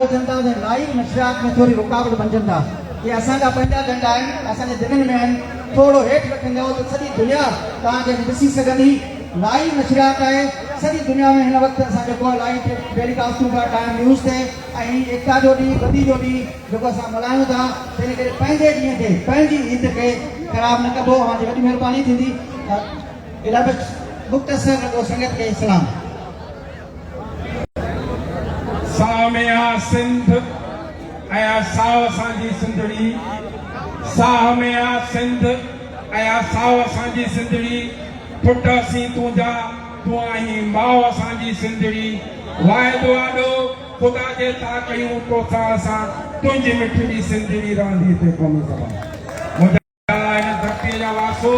اچن ٿا ته لائيو نشريات ۾ ٿوري رڪاوٽ بنجن ٿا جي اسان جا پنهنجا جنڊا آهن اسان جي دلين ۾ آهن ٿورو هيٺ رکنجو ته سڄي دنيا توهان کي ڏسي سگهندي لائيو نشريات آهي سڄي دنيا ۾ هن وقت اسان جيڪو لائيو ٽيلي ڪاسٽون پيا ٺاهيون نيوز تي ۽ ايڪتا جو ڏينهن بدي جو ڏينهن جيڪو اسان ملهايون ٿا تنهن ڪري پنهنجي ڏينهن کي پنهنجي عيد کي خراب نه ڪبو اوهان جي وڏي مهرباني ٿيندي الابت مختصر رڳو سنگت کي سلام. ساهه ۾ آ سنڌ ۽ آ ساهه اسان جي سنڌڙي ساهه ۾ آ سنڌ ۽ آ ساهه اسان جي سنڌڙي پٽ اسين تنهنجا تون آهين ماء اسان جي سنڌڙي واعدو آڏو خدا جي ٿا ڪيون توسان اسان تنهنجي مٺڙي سنڌڙي رهندي تي قومي سڀا هن ڌرتيء جا وارثو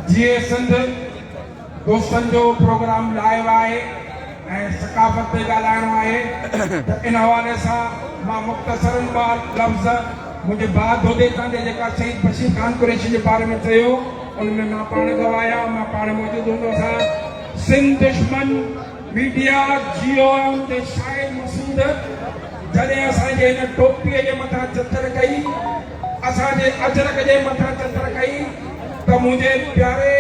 جيئي سنڌ دوستن جو پروگرام لايو آهي ۽ ثقافت تي ڳالهائڻو آهي ته ان حوالي سان مان مختصر ٻه لفظ منهنجي ڀاء دودي تان جي جيڪا شهيد بشير خان قريشي جي باري ۾ چيو ان ۾ مان پاڻ گواهه آهيان مان پاڻ موجود هوندو هوسان سنڌ دشمن ميڊيا جي او ايم تي شاهد مسعود جڏهن اسان جي هن ٽوپي جي مٿان چتر ڪئي اسان جي اجرڪ جي مٿان چتر ڪئي ته منهنجي پياري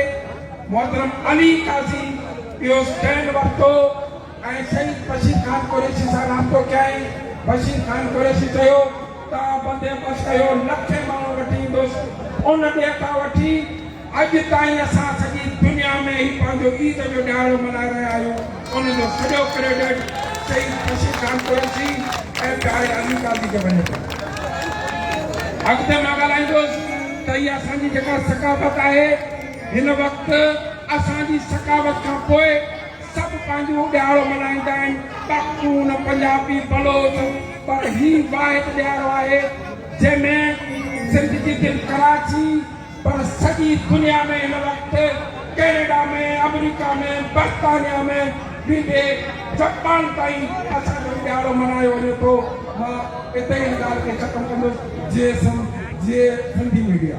محترم علي قاضي اهو اسٽينڊ ورتو ۽ شهيد بشير خان قريشي سان رابطو ڪيائين بشير خان قريشي چيو ته بندي بس اهو لکين ماڻهو وٺي ايندس ان ڏيهه کان وٺي اڄ تائين اسان سڄي دنيا ۾ هي پنهنجو عيد جو ڏهاڙو ملهائي رهيا آهيون ان جو سڄو ڪريڊٽ شهيد خوشي خان قريشي ۽ پياري علي قاضي کي وڃي ٿو. اڳتي مان ڳالهائيندس ته هي اسان جي جيڪا ثقافت آهي هن وقت اسان جي ثقافت کان پوء سڀ پنهنجو ڏهاڙو ملهائيندا آهن پختون پنجابي بلوچ پر هي واحد ڏهاڙو آهي جنهن ۾ سنڌ جي دل ڪراچي پر سڄي دنيا ۾ هن وقت ڪينيڊا ۾ آمريڪا ۾ برطانيا ۾ ويندي جپان تائين اسان جو ڏهاڙو ملهايو وڃي ٿو مان اتي ئي هن ڳالهه کي ختم ڪندس جي سنڌ جي سنڌي ميڊيا.